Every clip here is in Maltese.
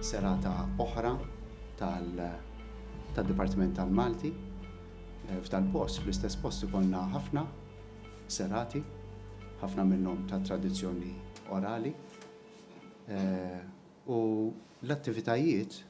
Serata oħra tad-Dipartiment tal-Malti eh, f'dal-post, fl-istess post ikollna ħafna serati, ħafna minnhom ta' tradizzjoni orali. Eh, u l-attivitajiet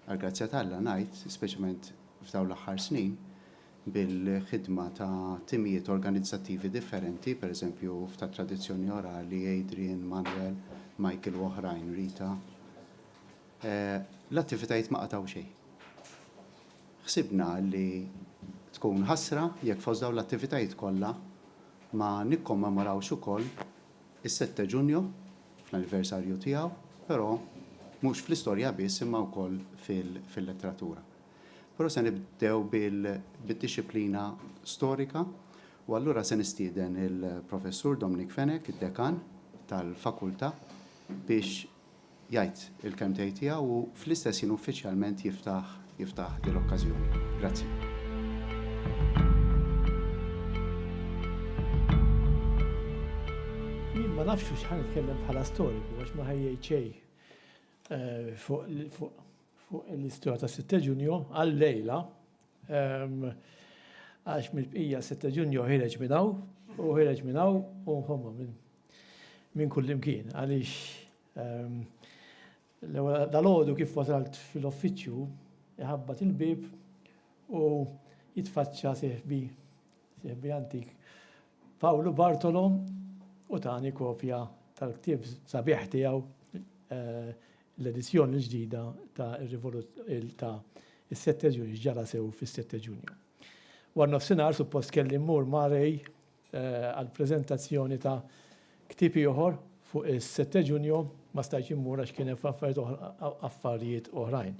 Għall-grazzja t'Alla ngħid, speċjalment f'dawn l-aħħar snin, bil-ħidma ta' timijiet organizzattivi differenti, pereżempju f'tat-tradizzjoni orali, Adrian, Manuel, Michael u oħrajn, Rita, l-attivitajiet ma qatgħu xejn. Ħsibna li tkun ħasra jekk fost dawn l-attivitajiet kollha ma nikkommemorawx ukoll Is-sette Ġunju, fl-anniversarju tiegħu, però mhux fl-istorja biss imma wkoll fil-letteratura. Però se nibdew bid-dixxiplina storika u allura se nistieden il-Professur Dominic Fenech, id-Dekan tal-Fakultà, biex jgħid il-kelmtejn tiegħu u fl-istess ħin uffiċjalment jiftaħ jiftaħ din l-okkażjoni. Grazzi. Jien ma nafx hux ħan nitkellem bħala storiku għax ma ħajjejt xejn eh, fuq fuq l-istorja ta' 6 ġunju għal-lejla ehm, għax mill-bqija 6 ġunju ħireġ minnaw u ħireġ minnaw u nħomma minn Minn kullimkien, għaliex l-ewwel dalgħodu kif wasalt fil-uffiċċju iħabbat il-bieb u jitfaċċa sieħbi, sieħbi antik, Pawlu Bartolo u tani kopja tal-ktieb sabiħ tiegħu eh, l-edizzjoni ġdida ta' ta' is-sette ġunju ġara sew fis-sette ġunju. War nofsinhar suppost kelli mmur ma' Rej għall-preżentazzjoni ta' ktieb ieħor fuq is-sette Ġunju, ma stajtx immur għax kien hemm affarijiet oħrajn.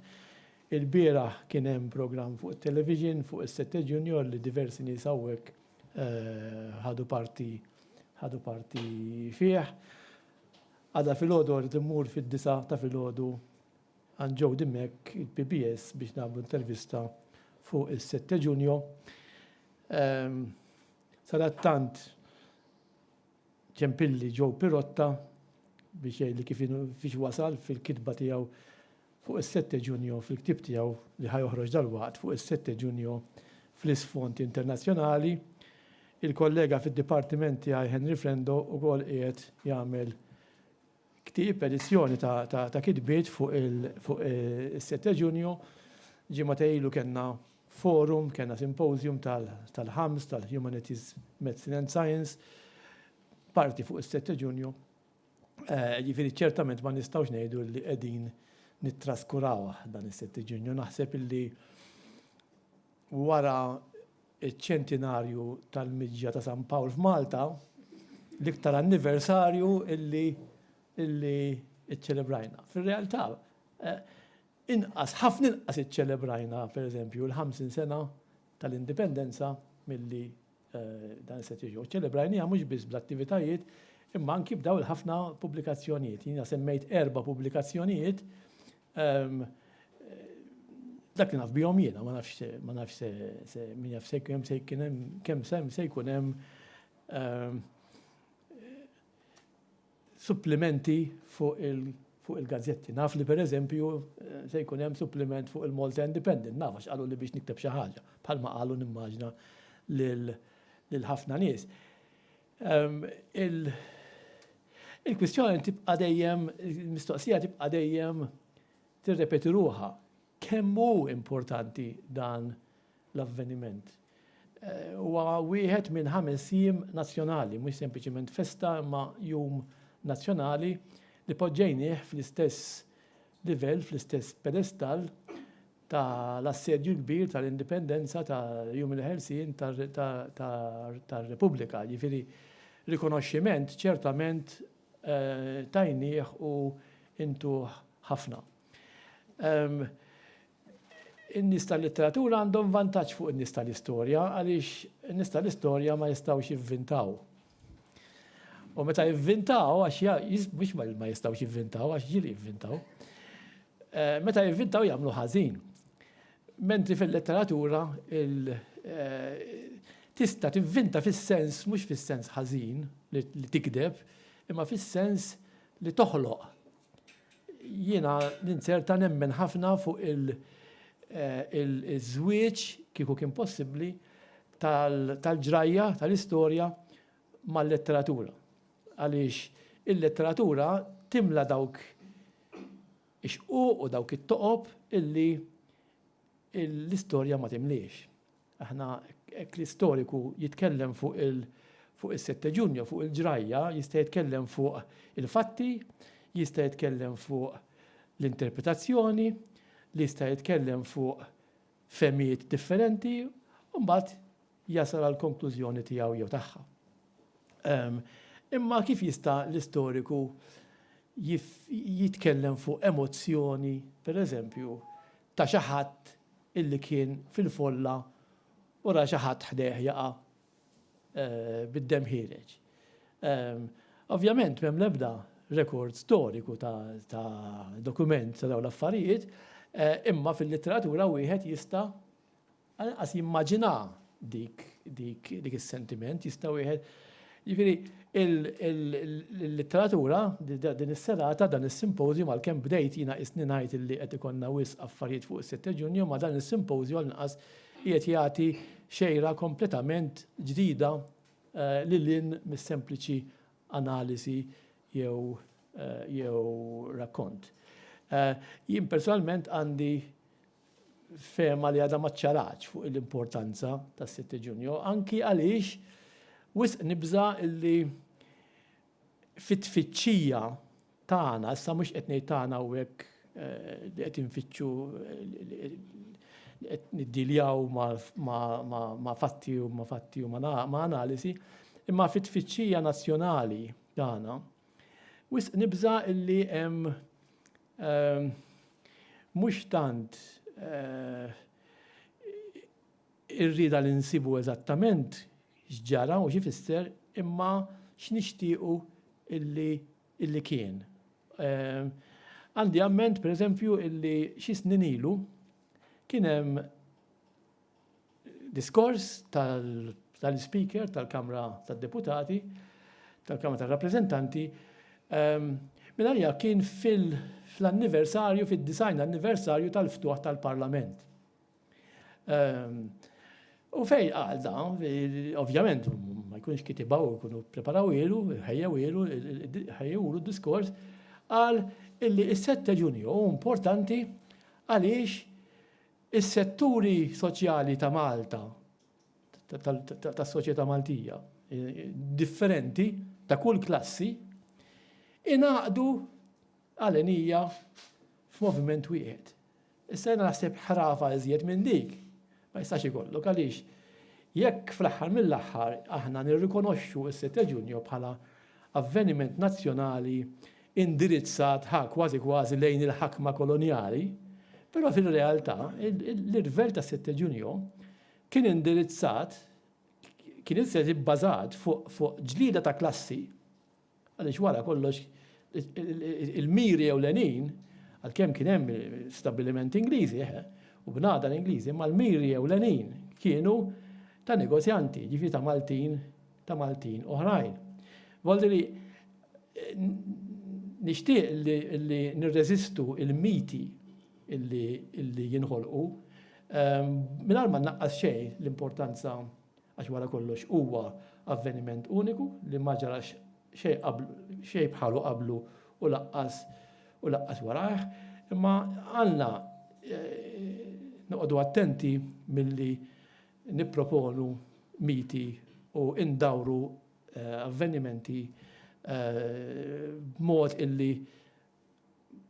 Ilbieraħ kien hemm programm fuq it-television fuq is-sette Ġunju li diversi nies hawnhekk ħadu parti ħadu parti fih. Għada filgħodu rrid immur fid-disgħa ta' filgħodu, Għand Jody Mack, il-PBS, biex nagħmlu intervista fuq is-sette Ġunju. Sadattant ċempilli Joe Pirotta biex jgħidli kif fiex wasal fil-kitba tiegħu fuq is-sette Ġunju fil-ktieb tiegħu li ħajoħroġ dalwaqt fuq is-sette Ġunju fl-isfond internazzjonali. Il-kollega fid-dipartiment tiegħi Henry Frendo wkoll qiegħed jagħmel Ktieb, edizzjoni ta' kitbiet fuq is-sitt ta' Ġunju. Ġimagħtej ilu kellna forum, kellna symposium tal-ħams tal-Humanities, Medicine and Science, parti fuq is-sitt ta' Ġunju. Jiġifieri ċertament ma nistgħux ngħidu li qegħdin nittraskurawh dan is-sitt ta' Ġunju. Naħseb illi wara iċ-ċentinarju tal-miġja ta' San Pawl f'Malta, l-iktar anniversarju illi illi iċċelebrajna. Fir-realtà, inqas, ħafna inqas iċċelebrajna, per eżempju, il-ħamsin sena tal-Indipendenza milli dan is-sena tiġi. U ċċelebrajniha mhux biss bl-attivitajiet, imma anki b'dawn il-ħafna pubblikazzjonijiet. Jiena semmejt erba' pubblikazzjonijiet Ehm, dak li naf bihom jiena, ma nafx se, ma nafx se, se, min jaf se kem se jkun hemm, kemm sem se jkun hemm ehm, supplementi fuq il fuq il-gazzetti. Naf li per eżempju eh, se jkun hemm supplement fuq il-Malta Independent, naf għax qalu li biex nikteb xi ħaġa, bħalma qalu nimmaġna lil ħafna nies. Il-kwistjoni tibqa' dejjem, il-mistoqsija tibqa' dejjem tirrepeti ruħha. Kemm hu importanti dan l-avveniment? Huwa wieħed minn ħames jiem nazzjonali, mhux sempliċement festa imma jum nazzjonali li poġġejnieh fl-istess livell, fl-istess pedestall, ta' l-assedju l-kbir ta' l-Indipendenza ta' Jum il-Ħelsien ta' r-Repubblika, jiġifieri rikonoxximent ċertament tajnieh u intuh ħafna. In-nies tal-litteratura għandhom vantaġġ fuq in-nies tal-istorja għaliex in-nies tal-istorja ma jistgħux jivvintaw. U meta jivvintaw, għax mhux ma jistgħux jivvintaw, għax ġili jivvintaw, eh, meta jivvintaw jagħmlu ħażin. Mentri fil-letteratura eh, tista' tivvinta fis-sens mhux fis-sens ħażin li tikdeb, imma fis-sens li toħloq Jiena ninzerta nemmen ħafna fuq il-żwieġ, kieku kien possibbli, tal-ġrajja, tal-istorja mal-letteratura. Għaliex il-letteratura timla dawk ix-xquq u dawk it-toqob illi l-istorja ma timliex. Aħna, hekk l-istoriku jitkellem fuq is-Setteġunja, fuq il-ġrajja, jista' jitkellem fuq il-fatti, jista' jitkellem fuq l-interpretazzjoni, li jista' jitkellem fuq fehmiet differenti, u mbagħad jasal għall-konklużjoni tiegħu jew tagħha. Imma kif jista' l-istoriku jitkellem fuq emozzjoni, pereżempju, ta' xi ħadd illi kien fil-folla u ra xi ħadd ħdejh jaqa' bid-demm ħiereġ. Ovvjament m'hemm l-ebda rekord storiku ta' dokument ta' dawn l-affarijiet, imma fil-litteratura wieħed jista' Anqas jimmaġina dik dik dik is-sentiment jista' wieħed. Jiġifieri il-letteratura din is-serata dan is-simpożju għalkemm bdejt jiena qisni ngħid li qed ikollna wisq affarijiet fuq is-7 Ġunju ma dan is-simpożju għall-inqas qiegħed jagħti xejra kompletament ġdida eh, lil hinn mis-sempliċi analiżi jew eh, jew rakkont. Eh, jien personalment għandi fehma li għadha ma ċċaratx fuq l-importanza tas-Sitt Ġunju, anki għaliex wisq nibża' li fit-tfittxija tagħna, issa mhux qed ngħid tagħna hawnhekk li qed infittxu qed niddiljaw ma' fatti u ma' fatti u ma' analisi, imma fit-tfittxija nazzjonali tagħna, wisq nibża' li hemm Mhux tant ir-rieda li nsibu eżattament x'ġara u x'ifisser imma x'nixtiequ li kien. Għandi amment, pereżempju, li xi snin ilu kien hemm Diskors tal-Ispeaker tal-Kamra tad-Deputati, tal-Kamra tar-Rappreżentanti, mill-għalija kien fl-anniversarju, fid-disgħin anniversarju tal-ftuħ tal-Parlament. U fejn qal dan, ovvjament, ma jkunx kitibha u jkunu preparaw ilu, ħejjew ilu, ħejjewlu d-diskors, qal illi s-sette Ġunju hu importanti għaliex Is-setturi soċjali ta' Malta, tas-soċjetà Maltija, differenti, ta' kull klassi, ingħaqdu għal għnija f'moviment wieħed. Issa jiena naħseb ħrafa iżjed minn dik ma jistax ikollok għaliex jekk fl-aħħar mill-aħħar aħna nirrikonoxxu s-Sitt ta' Ġunju bħala avveniment nazzjonali indirizzat ha kważi kważi lejn il-ħakma kolonjali, però fir-realtà l-irvell ta' Sette Ġunju kien indirizzat, kien iżjed ibbażat fuq ġlieda ta' klassi, għaliex wara kollox il-miri ewlenin, għalkemm kien hemm stabbilimenti Ingliżi, eħe, u bnadar Ingliżi, imma l-miri ewlenin kienu ta' negozjanti, jiġifieri ta' Maltin, ta' Maltin oħrajn. Voldi li nixtieq li nirreżistu il-miti illi jinħolqu ehm, mingħajr ma naqqas xejn l-importanza għax wara kollox huwa avveniment uniku li ma ġarax xejn bħalu qablu u laqqas u laqqas warajh, imma għandna eh, noqogħdu attenti milli nipproponu miti u ndawru avvenimenti b'mod illi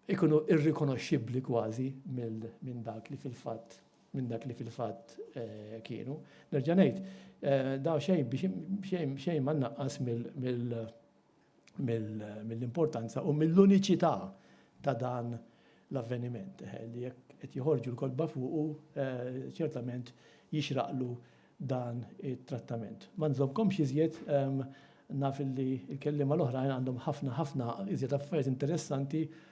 jkunu irrikonoxxibbli kważi minn dak li fil-fatt minn dak li fil-fatt kienu. Nerġa' ngħid, daqsxejn biex xejn ma nnaqqas mill mill-importanza u mill-uniċità ta' dan l-avveniment, li jekk qed joħorġu l-kotba fuqu, ċertament jixraqlu dan it-trattament. Ma nżommkomx iżjed, naf li l-kelliema l-oħrajn għandhom ħafna ħafna iżjed affarijiet interessanti,